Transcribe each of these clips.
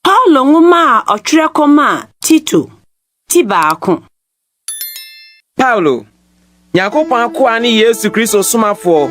Paulo nwoma a ɔtwerɛ kɔmaa Tito ti baako. Paulo, Nyankopɔn akoa ne Yesu Kristo somafoɔ,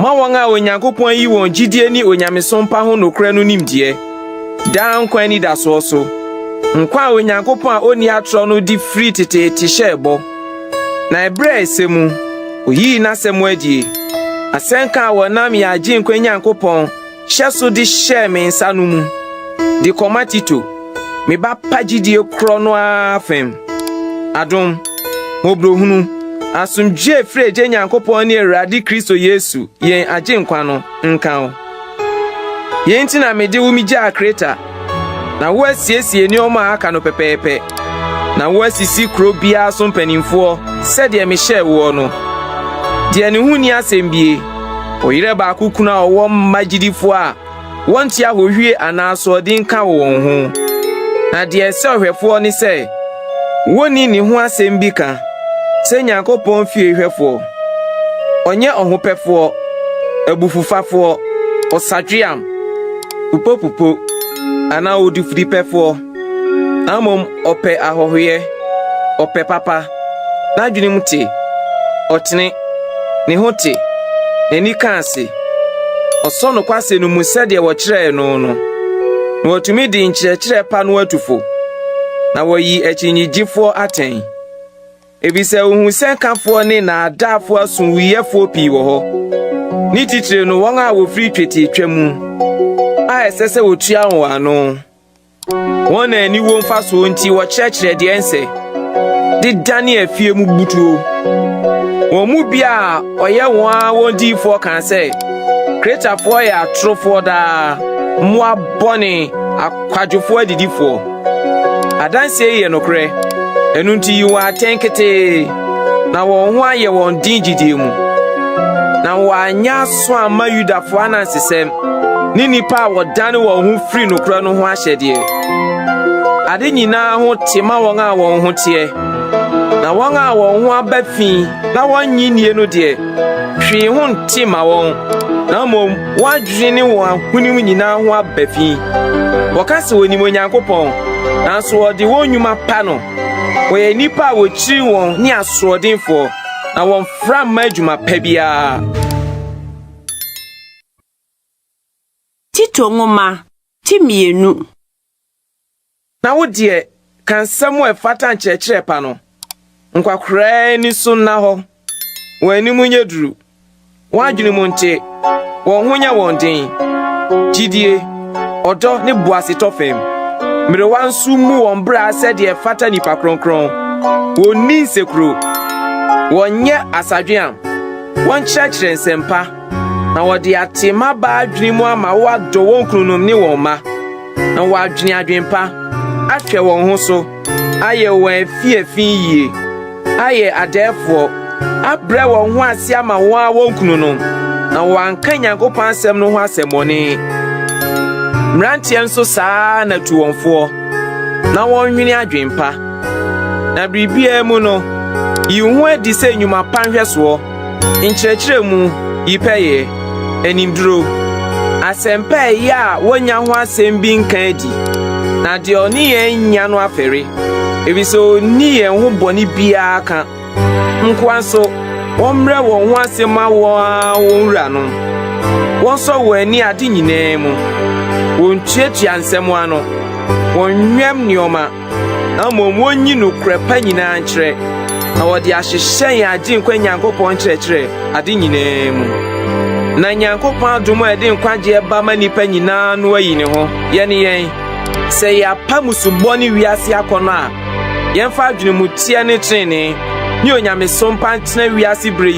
ma wɔn a Onyankopɔn ayi wɔn gyidie ne onyamesom pa ho nokorɛ no nimdeɛ, daa nkwa anidasoɔ so, nkwa a Onyankopɔn a ɔnni atorɔ no de firi teteete hyɛɛ bɔ. Na ɛberɛ a ɛsɛ mu, oyii n'asɛm adi, asɛnka a wɔnam yɛn Agyenkwa Nyankopɔn hyɛ so de hyɛɛ me nsa no mu, de kɔma Tito, me ba pa gyidie korɔ no ara fam. Adom, mmɔborɔhunu, asomdwoeɛ firi Agya Nyankopɔn ne Awurade Kristo Yesu, yɛn Agyenkwa no, nka wo. Yei nti na mede wo megyaa Kreta, na woasiesie nneɛma a aka no pɛpɛɛpɛ, na woasisi kuro biara so mpanimfoɔ sɛdeɛ mehyɛɛ woɔ no. Deɛ ne ho nni asɛm bie, ɔyerɛ baako kunu a ɔwɔ mma gyidifoɔ a wɔnte ahohwie anaa asoɔden ka wɔ wɔn ho. Na deɛ ɛsɛ ɔhwɛfoɔ ne sɛ wonni ne ho asɛm bi ka sɛ Nyankopɔn fie hwɛfoɔ. Ɔnyɛ ɔhopɛfoɔ, abufufafoɔ, ɔsadweam, popopopo anaa odifudepɛfoɔ, na mmom ɔpɛ ahɔhoyɛ, ɔpɛ papa, n'adwenem te, ɔtene, ne ho te, n'ani ka ase, ɔsɔ nokwasɛm no mu sɛdeɛ wɔkyerɛɛ no no, na watumi de nkyerɛkyerɛ pa no atu fo, na wayi akyinnyegyefoɔ atɛn. Efisɛ wohu sɛ nkafoɔ ne nnaadaafoɔ asomwuiɛfoɔ pii wɔ hɔ, ne titire no wɔn a wɔfiri twetiatwa mu a ɛsɛ sɛ wɔtua wɔn ano. Wɔn a aniwuo mfasoɔ nti wɔkyerɛkyerɛ deɛ ɛnsɛ de dane afie mu butuo. Wɔn mu bi a ɔyɛ wɔn ara wɔn diyifoɔ kaa sɛ, Kretafoɔ yɛ atorofoɔ daa, mmoa bɔne, akwadwofoɔ adidifoɔ. Adanseɛ yi yɛ nokorɛ, ɛno nti yi wɔn atɛn ketee na wɔn ho ayɛ wɔn den gyidie mu, na wɔanyɛ aso amma Yudafoɔ anansesɛm ne nnipa a wɔdane wɔn ho firi nokorɛ no ho ahyɛdeɛ. Ade nyinaa ho te ma wɔn a wɔn ho teɛ, na wɔn a wɔn ho aba fi na wɔnnye nnie no deɛ, hwee ho nte ma wɔn, na mmom Wɔn adwene ne wɔn ahonim nyinaa ho aba fi. Wɔka sɛ wɔnim Onyankopɔn, nanso wɔde wɔn nnwuma pa no. Wɔyɛ nnipa a wɔkyiri wɔn ne asoɔdenfoɔ, na wɔmfra mma adwuma pa biara. Tito nwoma ti mmienu Na wo deɛ, ka nsɛm a ɛfata nkyerɛkyerɛ pa no. Nkwakoraa ani so nna hɔ, wɔn anim nyɛ duru, wɔn adwene mu nte, wɔn ho nyɛ wɔn den. Gyidie, ɔdɔ ne boasetɔ fam. Mmerewa nso mmu wɔn bra sɛdeɛ ɛfata nnipa kronkron. Wɔnni nsekuro, wɔnyɛ asadweam, wɔnkyerɛkyerɛ nsɛm pa. na wɔde ate mmabaa adwene mu ama wɔadɔ wɔn kununom ne wɔn mma, na wɔadwene adwempa, ahwɛ wɔn ho so, ayɛ wɔn afiafi yie, ayɛ adɛɛfoɔ, abrɛ wɔn ho ase ama wɔn a wɔn kununom, na wɔanka Nyankopɔn asɛm no ho asɛmmɔne. Mmeranteɛ nso saa na tu wɔn foɔ, na wɔnwene adwempa. Na biribiara mu no, yi wo ho adi sɛ nnwuma pa nhwɛsoɔ. nkyerɛkyerɛmu, yi pɛyɛ, animduro, asɛmpa a ɛyɛ a wonnya ho asɛm bi nka adi, na deɛ ɔne yɛn nnya no afɛre, efisɛ onni yɛn ho bɔne biara ka. Nkoa nso, wɔmmrɛ wɔn ho ase mma wɔn ara wɔn wuranom. Wɔnsɔ wɔn ani ade nyinaa mu. Wontuatua nsɛm ano. Wɔnwɛm nneɛma. na mmom wonyi nokorɛ pa nyinaa nkyerɛ, na wɔde ahyehyɛ yɛn Agyenkwa Nyankopɔn nkyerɛkyerɛ ade nyinaa mu. Na Nyankopɔn adom a ɛde nkwagyeɛ ba ma nnipa nyinaa no ayi ne ho. Yɛne yɛn, sɛ yɛapa musubɔ ne wiase akɔnnɔ a, yɛmfa adwenemuteɛ ne trenee ne onyamesom pa ntena wiase berɛ yi